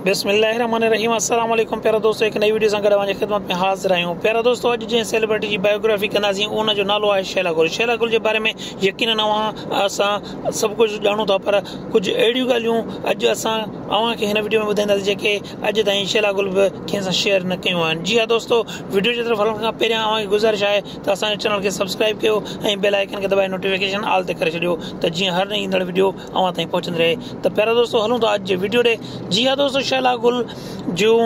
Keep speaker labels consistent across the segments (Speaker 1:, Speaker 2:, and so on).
Speaker 1: بسم الله الرحمن الرحيم السلام عليڪم پيارا دوستو هڪ نئي وڊيو سان گڏ اوهان جي خدمت ۾ حاضر آهيون پيارا دوستو اڄ جنهن سيلبرٽي جي بائيوگرافي ڪنداسين ان جو نالو آهي شيلا گل شيلا گل جي باري ۾ يقينن اوهان اسان سڀ ڪجهه ڄاڻو ٿا پر ڪجهه اهڙيون ڳالهيون اڄ اسان اوهان کي هن وڊيو ۾ ٻڌائينداسين جيڪي اڄ تائين شيلا گل به ڪنهن سان شيئر نه ڪيون آهن جي ها دوستو وڊيو جي طرف هلڻ کان پهريان اوهان کي گذارش آهي ته اسان جي چينل کي سبسڪرائب ڪيو ۽ بيل آئيڪن کي دٻائي نوٽيفڪيشن آل تي ڪري ڇڏيو ته جيئن هر نئين ايندڙ وڊيو اوهان تائين پهچندي رهي ته پيارا دوستو هلون ٿا اڄ جي ويڊيو ڏي جي ها دوستو شهلا گل جون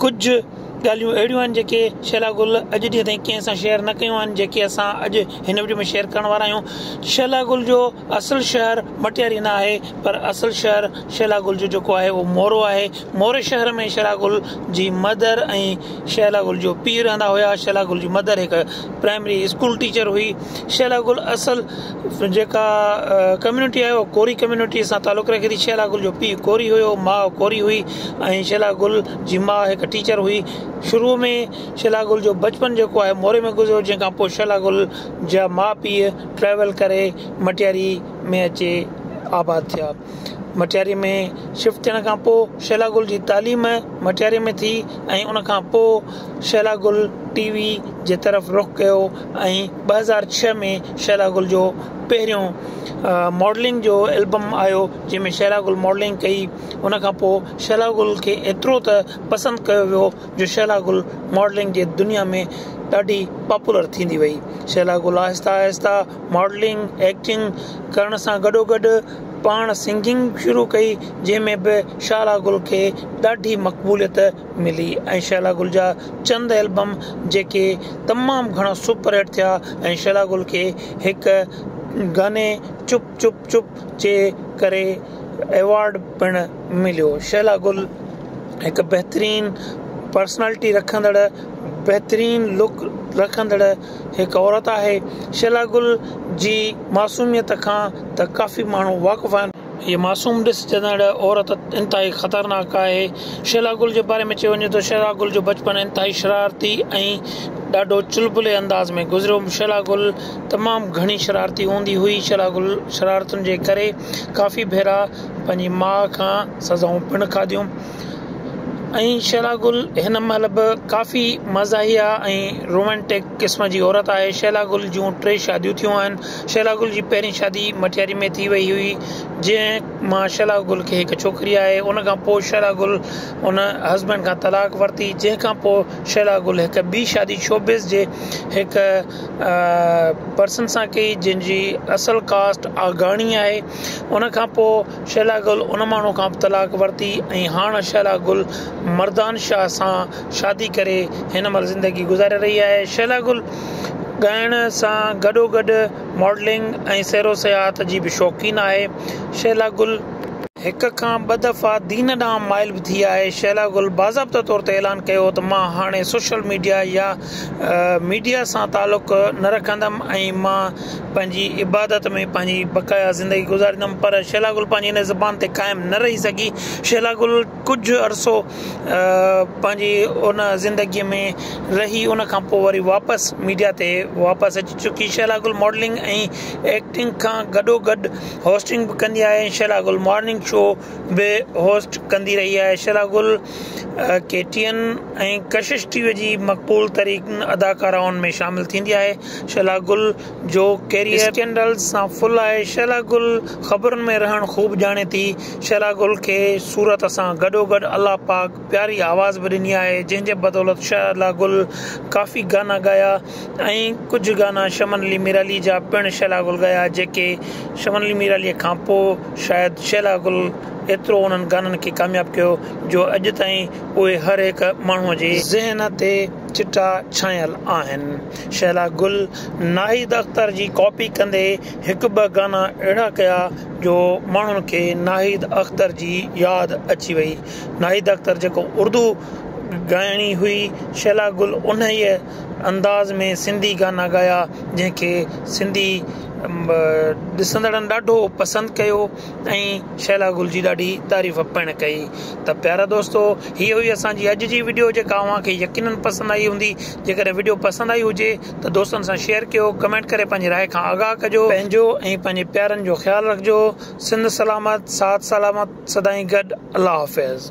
Speaker 1: ڪجهه ڳالهيون اهڙيون آهن جيڪي شهلا گل اڄ ڏينهن تائين ڪنهن سان شيئر نه ڪيون آهن جيڪي اسان اڄ هن ويڊيو ۾ شيئر ڪرڻ وارا آهيون شهلا گل جو اصل شهر مٽياري نه آهي پر اصل شهر شهلا گل جو جيڪو آهي اهو مورو آهي موري شهر ۾ شهلا گل جي مدر ۽ شهلا گل جو پيء رهندا هيا شهلا گل جي مدر هڪ پرائمري اسڪول ٽيچر هئي شهلا گل اصل جيڪا ڪميونٽي آهي اهو ڪوري ڪميونٽي سان تعلق رکي ٿي شهلا گل جو پيء ڪوري هيو ماء ڪوري هئي ۽ شهلا گل جي ماء هڪ ٽيچر هئي شروع ۾ شهلا گل جو بچپن جيڪو آهي موري ۾ گذريو جنهن کان پوء شهلا گل جا ماء پيء ٽريول ڪري مٽياري ۾ اچي آباد ٿيا مٽياري ۾ شفٽ ٿيڻ کان پوء شهلا گل جي تعليم مٽياري ۾ ٿي ۽ ان کان پوء شهلا گل ٽي وي جي طرف رخ ڪيو ۽ ٻه هزار ڇهه ۾ شهلا گل جو پهريون ماڊلنگ جو البم آيو جنهن ۾ شهلا گل ماڊلنگ ڪئي ان کان پوء شهلا گل کي ايترو ته پسند ڪيو ويو جو شهلا گل ماڊلنگ جي دنيا ۾ ڏاڍي پاپولر ٿيندي وئي شهلا گل آهستي آهستي ماڊلنگ ايڪٽنگ ڪرڻ سان گڏو گڏ پاڻ سنگنگ شروع ڪئي جنهن ۾ به شهلا گل کي ڏاڍي مقبوليت ملي ۽ شهلا گل جا چند البم جيڪي تمام گهڻا سپر هٽ ٿيا ۽ شهلا گل کي هڪ گاني چپ چپ چپ جي ڪري ايوارڊ پڻ مليو شهلا گل هڪ بهترين پرسنالٽي رکندڙ بهترين لڪ رکندڙ هڪ عورت آهي. شيلا گل جي معصوميت کان ته ڪافي ماڻهو واقف آهن. هيء معصوم ڏسجندڙ عورت انتهائي خطرناڪ آهي. شيلا گل جي باري ۾ چيو وڃي ٿو، شيلا گل جو بچپڻ انتهائي شرارتي ۽ ڏاڍو چلبلي انداز ۾ گذريو. شيلا گل تمام گهڻي شرارتي هوندي هئي. شيلا گل شرارتن جي ڪري ڪافي ڀيرا پنهنجي ماء کان سزائون پڻ کاڌيون. ۽ شيلا گل هن مهل به ڪافي مزاحيه ۽ رومانٽڪ قسم جي عورت آهي شيلا گل جون ٽي شاديون ٿيون آهن شيلا گل جي پهرين شادي مٽياري ۾ ٿي وئي هئي جنهن مان شيلا گل کي هڪ ڇوڪري آهي ان کان پوء شيلا گل ان هسبينڊ کان طلاق ورتي جنهن کان پوء شيلا گل هڪ ٻي شادي شوبز جي هڪ پرسن سان ڪئي جنهن جي اصل ڪاسٽ آگاڻي آهي ان کان پوء شهلا گل ان ماڻهو کان به طلاق ورتي ۽ هاڻ شهلا گل مردان شاهه سان شادي ڪري هن مهل زندگي گذاري رهي آهي شهلا گل ڳائڻ سان گڏو گڏ ماڊلنگ ۽ سير و سياحت جي به شوقين آهي شهلا گل هڪ کان ٻه دفعا دين ڏانهن مائل به ٿي آهي شهلا گل باضابطه طور تي اعلان ڪيو ته مان هاڻي سوشل ميڊيا يا. ميڊيا سان تعلق نه رکندم ۽ مان پنهنجي عبادت ۾ پنهنجي بقايا زندگي گذاريندم پر شيلا گل پنهنجي ان زبان تي قائم نه رهي سگهي شيلا گل ڪجهه عرصو پنهنجي ان زندگي ۾ رهي ان کان پوء وري واپس ميڊيا تي واپس اچي چڪي شيلا گل ماڊلنگ ۽ ايڪٽنگ کان گڏو گڏ هوسٽنگ به ڪندي آهي شيلا گل مارننگ شو به هوسٽ ڪندي رهي آهي شيلا گل ڪيٽين ۽ ڪشش ٽي وي جي مقبول ترين اداڪارائن ۾ شامل ٿيندي آهي شهلا گل جو ڪيريئر اسڪينڊلز سان فل آهي شهلا گل خبرن ۾ رهڻ خوب ڄاڻي ٿي شهلا گل کي صورت سان گڏوگڏ الله پاڪ پياري آواز به ڏني آهي جنهن جي بدولت شهلا گل ڪافي گانا ڳايا ۽ ڪجهه گانا شمن علي ميرعلي جا پڻ شيلا گل ڳايا جيڪي شمن علي ميرعلي کان پوء شايد شيلا گل ايترو انهن گانن کي ڪامياب ڪيو جو اڄ تائين اهي هر هڪ ماڻهو جي ذهن تي چٽا ڇانيل آهن. شيلا گل ناهيد اختر جي ڪاپي ڪندي هڪ ٻه گانا اهڙا ڪيا جو ماڻهن کي ناهيد اختر جي ياد اچي وئي ناهيد اختر جيڪو اردو ڳائڻي هئي شيلا گل انهيء انداز ۾ سنڌي گانا ڳايا جنهن کي سنڌي ڏسندڙن ڏاڍو پسند ڪيو ۽ شهلا گل جي ڏاڍي تعريف پڻ ڪئي ته پيارا دوستو هي هئي اسانجي اڄ جي ويڊيو جيڪا اوهان کي يقينن پسند آئي هوندي جيڪڏهن ويڊيو پسند آئي هجي ته دوستن سان شيئر ڪيو ڪمينٽ ڪري پنهنجي راء کان آگاهه ڪجو پنهنجو ۽ پنهنجي پيارن جو خيال رکجو سنڌ سلامت ساٿ سلامت سدائين گڏ الله حافظ.